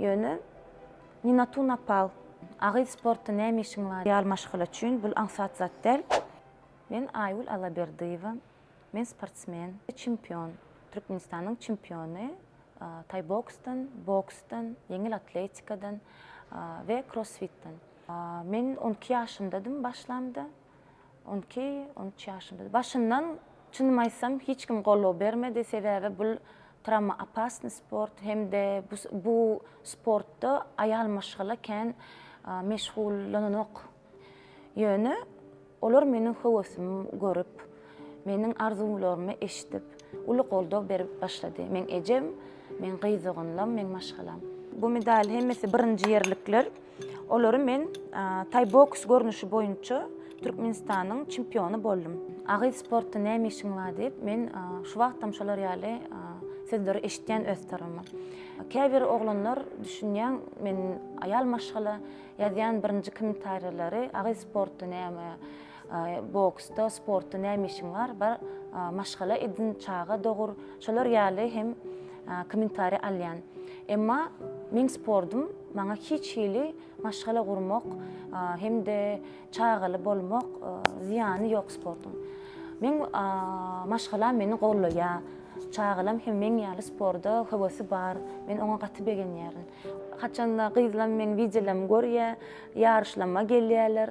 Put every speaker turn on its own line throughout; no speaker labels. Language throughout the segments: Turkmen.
Ýöne Nina Tun Apal, A gyz sportda näme işiň bar? Ýaly maşgala üçin bul aňsat zat däl. Men Aýgül Allaberdiýewa. Men sportsmen, çempion. Türkmenistanyň çempiony taýboksdan, boksdan, ýeňil atletikadan we krossfitden. Men on iki ýaşymdadym başlamda. On iki, on üç ýaşymda. Başyndan, çynymy aýtsam, hiç kim goldaw bermedi, sebäbi bul tramoopasnyý sport hem-de bu sportda aýal maşgala kän meşgullananok. Ýöne olar meniň höwesimi görüp, Meniň arzuwlarymy eşidip, uly goldaw berip başlady. Meň ejem, meň gyz doganlam, meň maşgalam. Bu medal hemmesi birinji ýerlikler. Olary men taý boks görnüşi boýunça Türkmenistanyň çempiony boldum. A gyz sportda näme işiň bar diýip, men şu wagtam şolar ýaly sözleri eşitýän öz tarapyma. Käbir oglanlar düşünýän, men aýal maşgala ýazýan birinji kommentariýalary a gyz sportda näme, Boksda, sportda näme işiň bar? Bar maşgala edin, çaga dogur. Şolar ýaly hem kommentariýa alýan. Emma meň sportym maňa hiç hili maşgala gurmak hem-de çagaly bolmak zyýany ýok sportuň. Meň maşgalam meni goldaýar. Çagalam hem meň ýaly sporda höwesi bar. Men oňa gaty begenýärin. Haçanda gyzlam meň wideolarymy görýär, ýaryşlama gelýärler.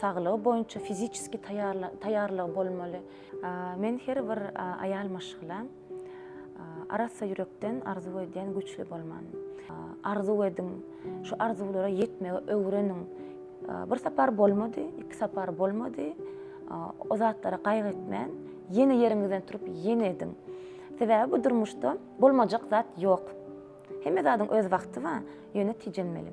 Saglygy boýunça fiziçeski taýýarlygy bolmaly. Men her bir aýal maşgala arassa ýürekden arzuw edýän güýçli bolmany. Arzuw ediň, şu arzuwlara ýetmegi öwreniň. Bir sapar bolmady, iki sapar bolmady, o zatlara gaýgy etmän, ýene ýeriňizden turup, ýene ediň. Sebäbi bu durmuşda bolmajak zat ýok. Hemme zadyň öz wagty bar, ýöne tijenmeli.